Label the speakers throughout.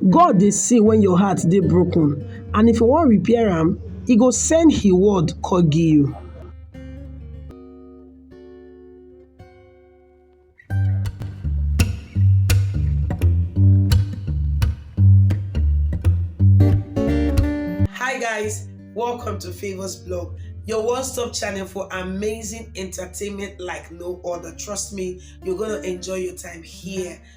Speaker 1: God dey see when your heart dey broken and if you wan repair am, e go send he word come give you. Hi guys, welcome to Favors Blog, your one-stop channel for amazing entertainment like no other. Trust me, you're gonna enjoy your time here.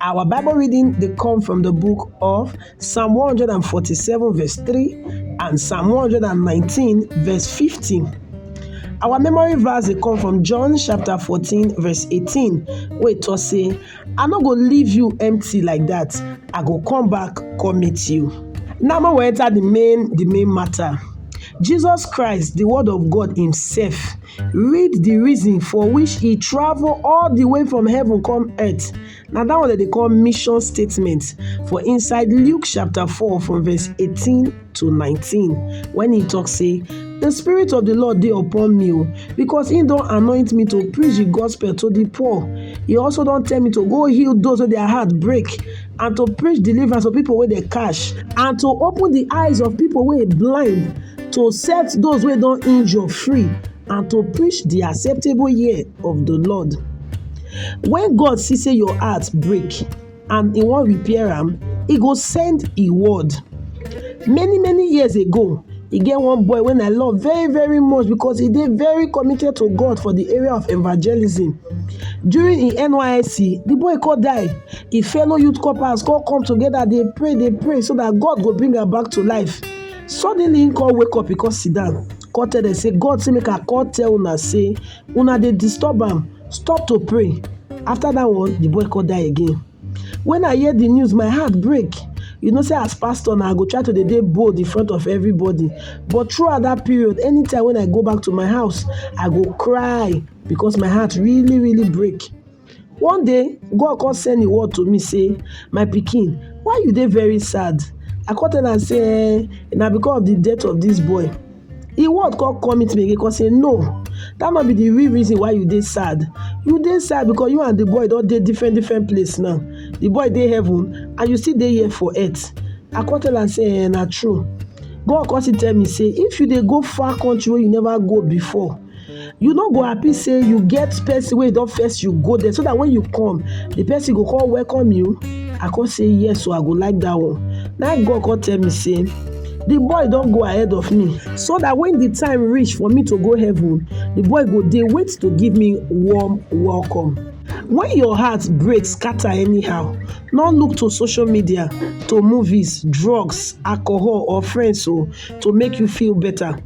Speaker 1: Our Bible reading they come from the book of Psalm 147 verse 3 and Psalm 119 verse 15. Our memory verse they come from John chapter 14 verse 18 Wait, it was say, I no go leave you empty like that. I go come back come meet you. Now more we enter the main the main matter. Jesus Christ, the word of God himself, Read the reason for which he travel all the way from heaven come earth. Now that one that they call mission statement for inside Luke chapter 4 from verse 18 to 19 when he talks say the spirit of the Lord dey upon me oh, because he don't anoint me to preach the gospel to the poor. He also don't tell me to go heal those with their heart break and to preach deliverance to people wey dey catch and to open the eyes of people wey blind to set those wey don injure free and to preach the acceptable year of the lord when god see say your heart break and he wan repair am he go send he word many many years ago E get one boy wey I love very very much because he dey very committed to God for the area of evangelism. During him NYSC, the boy come die. Him fellow youth corpers come come together dey pray dey pray so that God go bring am back to life. Suddenly him come wake up, he come sit down, come tell them say God say make I come tell una say una dey disturb am, stop to pray. After that one, the boy come die again. When I hear the news, my heart break. You know say as pastor now, I go try to dey bold in front of everybody. But throughout that period, anytime when I go back to my house, I go cry because my heart really, really break. One day, God come send a word to me say, my picking, why you dey very sad? I come tell am say, eh, na because of the death of this boy. He word come come meet me again come say no that no be the real reason why you dey sad you dey sad because you and the boy don dey different different place now the boy dey heaven and you still dey here for earth I come tell am say eh na true God come still tell me say if you dey go far country wey you never go before you no go happy say you get person wey don first you go there so that when you come the person go come welcome you i come say yes so i go like that one na god come tell me say the boy don go ahead of me so that when the time reach for me to go heaven the boy go dey wait to give me warm welcome when your heart break scatter anyhow no look to social media to movies drugs alcohol or friends o oh, to make you feel better